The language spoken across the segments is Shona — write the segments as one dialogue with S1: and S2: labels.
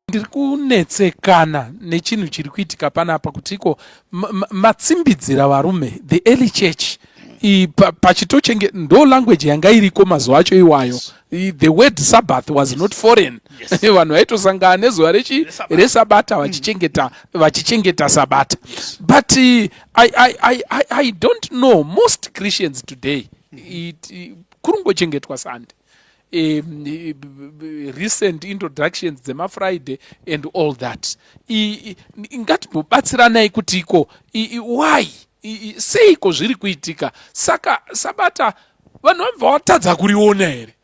S1: ndiri kunetsekana nechinhu chiri kuitika panapa kuti iko matsimbidzira varume the early church pachitochenge ndo language yanga iriko mazuva acho iwayo the word sabbath was not foreign vanhu vaitosangana nezuva rechi resabata mm. vachichengeta vachichengeta sabata but uh, I, I, I, i don't know most christians today mm-hmm. kuri ngochengetwa sunday um, recent introductions dzemafriday and all that ngatimbobatsiranai kuti iko why seiko zviri kuitika saka sabata vanhu vabva vatadza kuriona here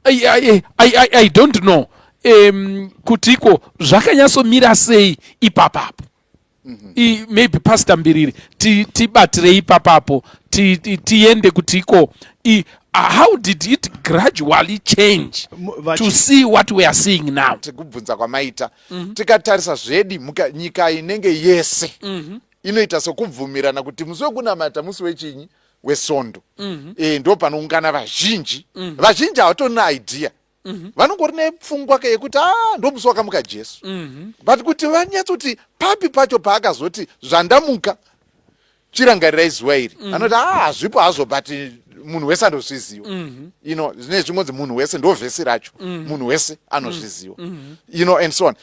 S1: I, I, I, I, i don't know um, kuti iko zvakanyatsomira sei ipapapo mm -hmm. maybe pasta mbiriri tibatirei ti ipapapo tiende ti, ti kuti iko i, uh, how did it gradually change Vachi, to see what we are seeing now tikubvunza kwamaita mm -hmm. tikatarisa zvedi nyika inenge yese mm -hmm. inoita sokubvumirana kuti musi wekunamata musi wechinyi wesondo mm -hmm. e, eh, ndo panoungana vazhinji mm -hmm. vazhinji havatoni neidea mm -hmm. vanongori nepfungwa ke yekuti a ah, ndo musi wakamuka jesu mm -hmm. but kuti vanyatsoti papi pacho paakazoti zvandamuka chirangarirai zuva iri mm -hmm. anoti a ah, hazvipo hazvo but munhu wese anozviziva mm -hmm. you know zvine zvingonzi munhu wese ndo vhesi racho mm -hmm. munhu wese anozviziva mm -hmm. you know and so on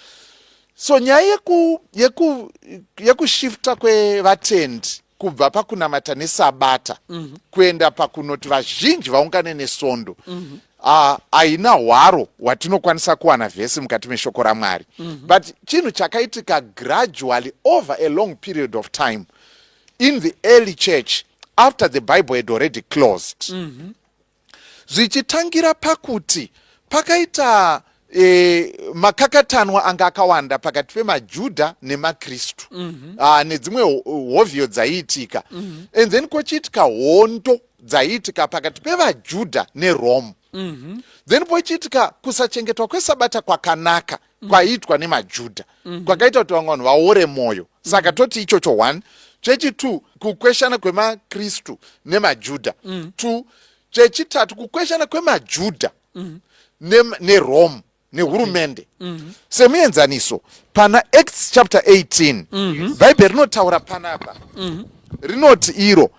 S1: so nyaya yeku, yeku, yekushifta kwevatendi kubva pakunamata nesabata mm -hmm. kuenda pakunoti vazhinji vaungane nesondo mm -hmm. haina hwaro hwatinokwanisa kuwana vhesi mukati meshoko ramwari mm -hmm. but chinhu chakaitika gradually over a long period of time in the early church after the bible had already closed mm -hmm. zvichitangira pakuti pakaita e, makakatanwa anga akawanda pakati pemajudha nemakristu mm -hmm. Ah, nedzimwe hovhiyo dzaiitika mm -hmm. and then kochiitika hondo dzaiitika pakati pevajudha nerome mm -hmm. then pochiitika kusachengetwa kwesabata kwakanaka mm -hmm mm. kwaiitwa nemajuda mm-hmm. kwakaita kuti vamwe vanhu vaore mwoyo saka mm. toti ichocho one chechitwo kukweshana kwemakristu nemajuda mm. two chechitatu kukweshana kwemajuda mm. nerome nehurumende mm -hmm. semuenzaniso pana acts chapter 18 mm -hmm. bhaibheri rinotaura panapa mm -hmm. rinoti iro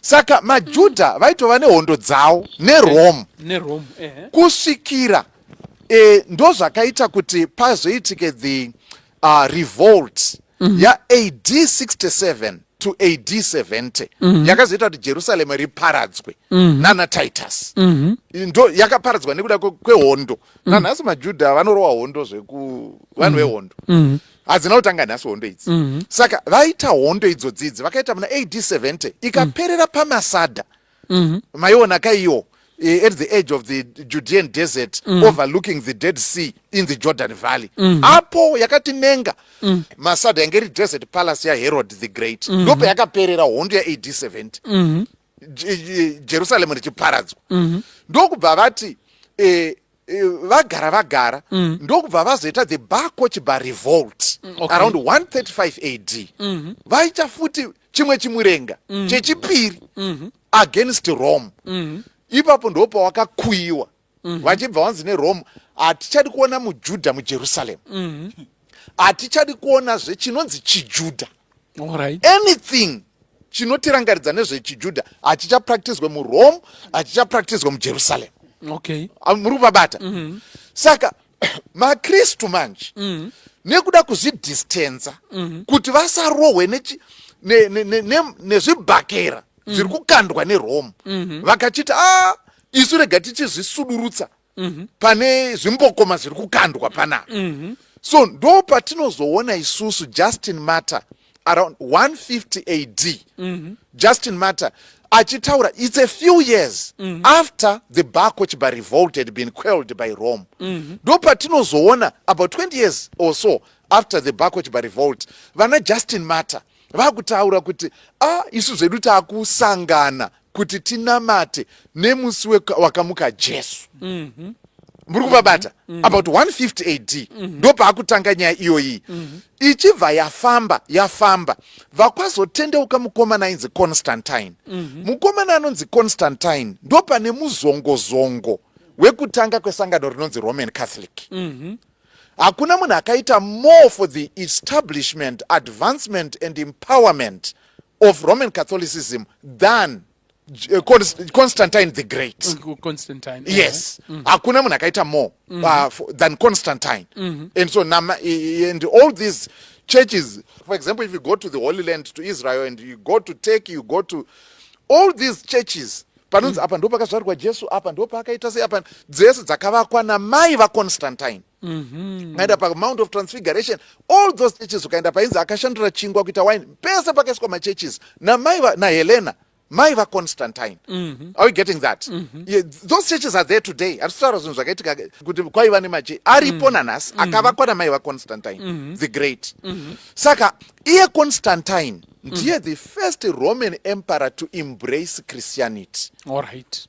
S1: saka majudha mm. vaitova nehondo dzawo nerome nerome eh. kusvikira eh, ndozvakaita kuti pazoitike the uh, revolt mm -hmm. ya ad 67 to ad 70 mm -hmm. yakazoita kuti jerusalem riparadzwe mm -hmm. nana titus mm -hmm. ndo yakaparadzwa nekuda kwehondo mm -hmm. nanhasi majudha vanorowa hondo zveku vanhu mhm. vehondo mm -hmm. hadzina kutanga nhasi hondo idzi mm -hmm. saka vaita hondo idzo dzidzi vakaita muna ad 70 ikaperera mm. pamasada mm -hmm. maiona kaiwo eh, at the edge of the judean desert mm. overlooking the dead sea in the jordan valley mm -hmm. apo yakatinenga mm. masada yange iri desert palace yaherod the great mm -hmm. ndope yakaperera hondo ya ad 70 mm -hmm. jerusalemu richiparadzwa mhm. ndokubva vati eh, eh, vagara vagara mhm. ndokubva vazoita the bakochba revolt mm, around 135 ad mhm. vaita futi chimwe chimurenga chechipiri against rome ipapo ndopawakakuyiwa mhm. vachibva vanzi nerome hatichadi kuona mujudha mujerusaremu mhm. hatichadi kuonazve chinonzi chijudha anything chinotirangaridza nezvechijudha hachichapractiswe murome hachichapractiswe mujerusaremu ah, muri kubabata mhm. saka makristu manje mm. nekuda kuzvidistenza mm. kuti vasarohwe nezvibhakera ne, ne, ne, ne, mm. zviri kukandwa nerome mm -hmm. vakachiti a ah, isu rega tichizvisudurutsa mm -hmm. pane zvimbokoma zviri kukandwa panapa mm -hmm. so ndo patinozoona isusu justin matter around 150 ad mm -hmm. justin matter achitaura its a few years mm -hmm. after the bar kochiba revolt had been quelled by rome mhm. ndo mm -hmm. patinozoona about 20 years or so after the bar kochiba revolt vana justin matter vakutaura kuti a ah, isu zvedu taakusangana kuti tinamate nemusi wakamuka jesu mm -hmm muri kuvabata mm. about 150 ad mm. ndopaakutanga nyaya iyoyi mm. ichibva yafamba yafamba vakwazotendeuka mukomana ainzi constantine mm. mukomana anonzi constantine ndopane muzongozongo wekutanga kwesangano rinonzi roman catholic mm. hakuna munhu akaita more for the establishment advancement and empowerment of Roman Catholicism than uh, Constantine the Great. Mm, Constantine. Yes. Eh? Mm. Hakuna mm. munhu akaita more mm. uh, for, than Constantine. Mm -hmm. And so nama, and all these churches, for example, if you go to the Holy Land to Israel and you go to Turkey, you go to all these churches panonzi mm. apa ndo pakazvarwa Jesu apa ndo paakaita sei apa dzese dzakavakwa namai vaConstantine. Mhm. maenda pamount of transfiguration all those churches ukaenda painzi akashandura chingwa kuita wine pese pakaiswa machurches namai nahelena mai vaconstantine mhm. are you getting that mhm. yeah, those churches are there today hatisitaura zvinhu zvakaitika kuti kwaiva nemache aripo nanhasi akavakwa namai vaconstantine the great saka iye constantine ndiye the first roman emperor to embrace christianity all right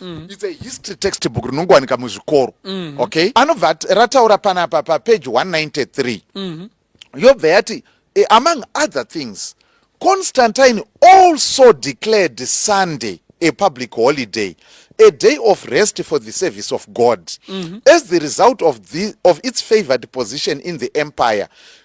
S1: mm. it's a history text book rinongowanika muzvikoro mm. okay anobva rataura panapa papeji 193 mm. yobva yati eh, among other things constantine also declared sunday a public holiday a day of rest for the service of god mm -hmm. as the result of, the, of its favored position in the empire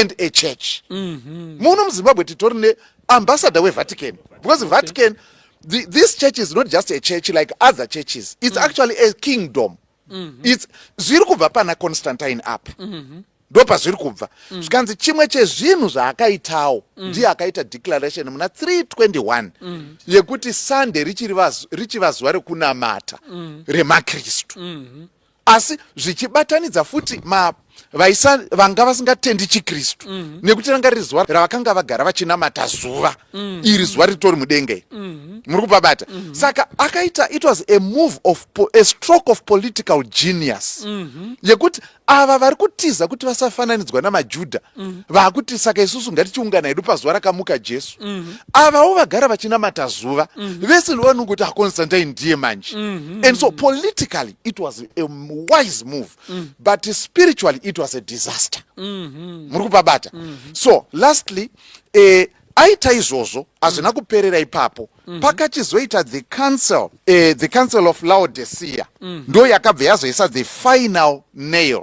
S1: and a church mm -hmm. muno muzimbabwe titori neambassador wevatican because okay. vatican the, this church is not just a church like other churches it's mm -hmm. actually a kingdom mm -hmm. it's zviri kubva pana constantine up mm -hmm ndopazviri kubva mm. zvikanzi chimwe chezvinhu zvaakaitawo mm. ndiye akaita declaration muna 321 mm. yekuti sunday richiva zuva rekunamata mm. remakristu mm-hmm. asi zvichibatanidza futi ma vaisa vanga vasingatendi chikristu mm -hmm. nekuti ranga riri zuva ravakanga vagara vachinamata zuva mm -hmm. iri zuva ritori mudenga iri mm -hmm. muri kupabata mm -hmm. saka akaita it was a move of a stroke of political genius mm -hmm. yekuti ava vari kutiza kuti vasafananidzwa namajudha mm -hmm. vakuti saka isusu ngatichiungana hedu pazuva rakamuka jesu mm -hmm. avawo vagara vachinamata zuva mm -hmm. vese ndovanongoti aconstantine ndiye manje mm -hmm. and so politically it was a wise move mm -hmm. but spiritually it was a disaster mm -hmm. muri kupabata mm -hmm. so lastly eh, aita izvozvo hazvina mm. kuperera ipapo mm -hmm. pakachizoita the council eh, the council of laodicea mm -hmm. ndo yakabva yazoisa the final nail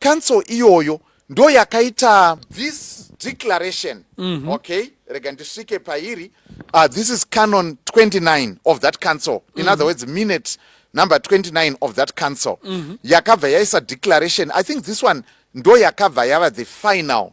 S1: council iyoyo ndo yakaita this declaration mm -hmm. okay rega ndisvike pairi uh, this is canon 29 of that council in mm -hmm. other mm-hmm. words minute number 29 of that council mm -hmm. yakabva yaisa declaration i think this one ndo yakabva yava the final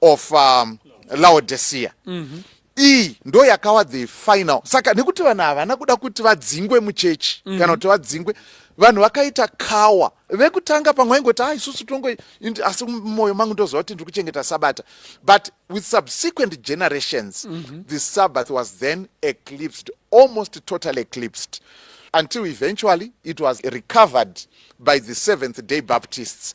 S1: of um, laodicea mm -hmm iyi ndo yakawa the final saka nekuti vanhu havana kuda kuti vadzingwe muchechi mm -hmm. kana kuti vadzingwe vanhu vakaita kawa vekutanga pamwe vaingoti a isusu tongo asi mumwoyo mangu ndoziva kuti ndiri kuchengeta sabata but with subsequent generations mm -hmm. the sabbath was then eclipsed almost total eclipsed until eventually it was recovered by the seventh day baptists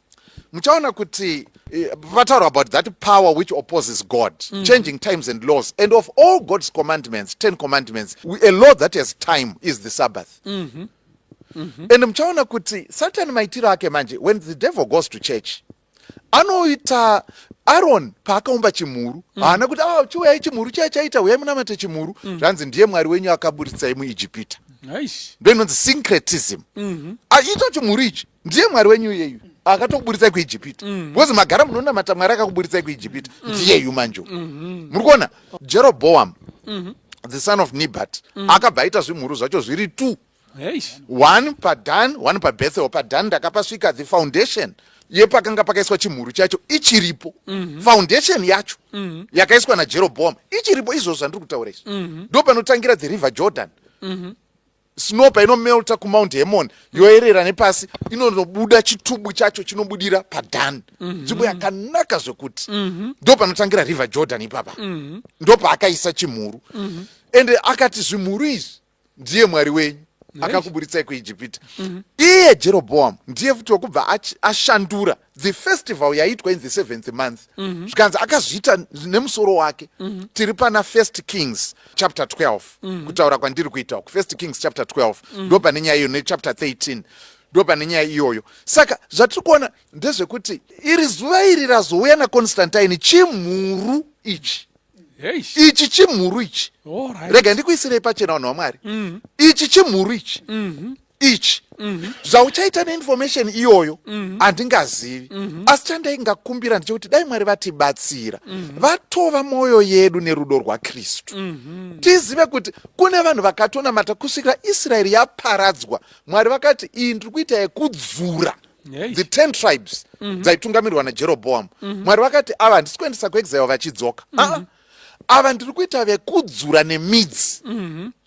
S1: muchaona kuti eh, pataura about that power which opposes god mm. changing times and laws and of all god's commandments 10 commandments a law that has time is the sabbath mm -hmm. Mm -hmm. and muchaona kuti satan maitiro ake manje when the devil goes to church anoita aron paakaumba chimhuru mm. haana kuti a ah, chiuyai chimhuru chai chaita huyai munamate chimhuru mm. zvanzi ndiye mwari wenyu akaburitsai muijipita nice. ndoinonzi syncretism mm -hmm. icho chimhuru ichi ndiye mwari wenyu iyeyu akatokuburitsai kuijipita mm. because magara munonamata mwari akakuburitsai kuijipita mm. ndiyeyu manjo mm-hmm. muri kuona jeroboam mm-hmm. the son of nebat mm. akabva aita zvimhuru zvacho zviri two one padan one pabethel padan ndakapasvika the foundation yepakanga pakaiswa chimhuru chacho ichiripo mm-hmm. foundation yacho yakaiswa najeroboam ichiripo izvozvo zvandiri kutaura izvi ndo panotangira the river jordan Snow painomelta kumount Hermon yoerera nepasi inonobuda chitubu chacho chinobudira paDan. Mhm. Nzvimbo yakanaka zvekuti. Mhm. Ndo panotangira River Jordan ipapa. Mhm. Ndo paakaisa chimhuru. Ende akati zvimhuru izvi ndiye mwari wenyu akakuburitsai kuEgipita. Iye Jeroboam ndiye futi wekubva ashandura the festival yaitwa in the seventh month mhm. zvikanzi mm -hmm. akazviita nemusoro wake mm -hmm. tiri pana first kings chapter 12 mm -hmm. kutaura kwandiri kuita uku first kings chapter 12 mm -hmm. ndo pane nyaya iyo nechapter 13 ndo pane nyaya iyoyo saka zvatiri kuona ndezvekuti iri zuva iri razouya naconstantine chimhuru ichi ichi chimhuru ichi rega ndikuisirei pachena vanhu vamwari mm-hmm. ichi chimhuru ichi mm-hmm. ichi mhm. zvauchaita neinformation iyoyo mhm. handingazivi mhm. asi chandaingakumbira ndechekuti dai mwari vatibatsira vatova mwoyo yedu nerudo rwakristu tizive kuti kune vanhu vakatonamata kusvikira israeri yaparadzwa mwari vakati iyi ndiri kuita yekudzura the ten tribes dzaitungamirirwa najeroboamu mwari vakati ava handisi kuendesa kuexile vachidzoka ava ndiri kuita vekudzura nemidzi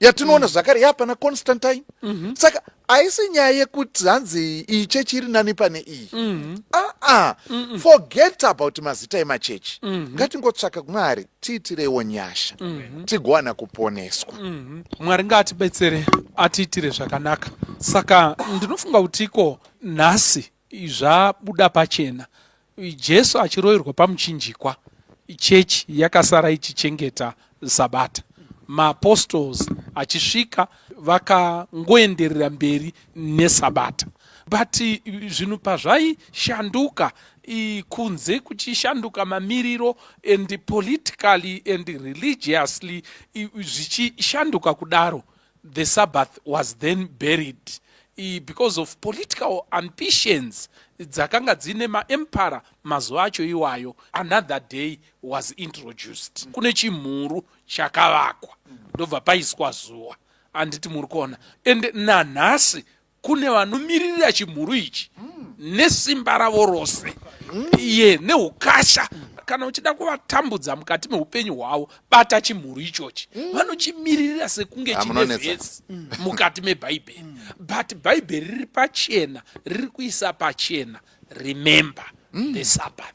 S1: yatinoona mm. zvakare yapana constantine mm -hmm. saka haisi nyaya yekuti hanzi iyi chechi iri nani pane iyi mm -hmm. aa ah, mm -mm. forget about mazita emachechi mm -hmm. ngatingotsvaka mwari tiitirewo nyasha mm -hmm. tigowana kuponeswa mm -hmm. mwari ngaatibetsere atiitire zvakanaka saka ndinofunga kutiko nhasi zvabuda pachena Jesu achiroverwa pamuchinjikwa, chechi yakasara ichichengeta sabata. Maapostles achisvika vakangoenderera mberi nesabata. But zvinhu pazvaishanduka kunze kuchishanduka mamiriro and politically and religiously zvichishanduka kudaro The Sabbath was then buried because of political ambitions dzakanga dzine maempara mazuva acho iwayo another day was introduced kune chimhuru chakavakwa ndobva paiswa zuva anditi muri kuona and nanhasi kune vanomiririra chimhuru ichi nesimba ravo rose iye neukasha kana uchida kuvatambudza mukati meupenyu hwavo bata chimhuru ichochi vanochimiririra sekunge chine vhesi mukati mebhaibheri but bhaibheri riri pachena riri kuisa pachena remember the sabbath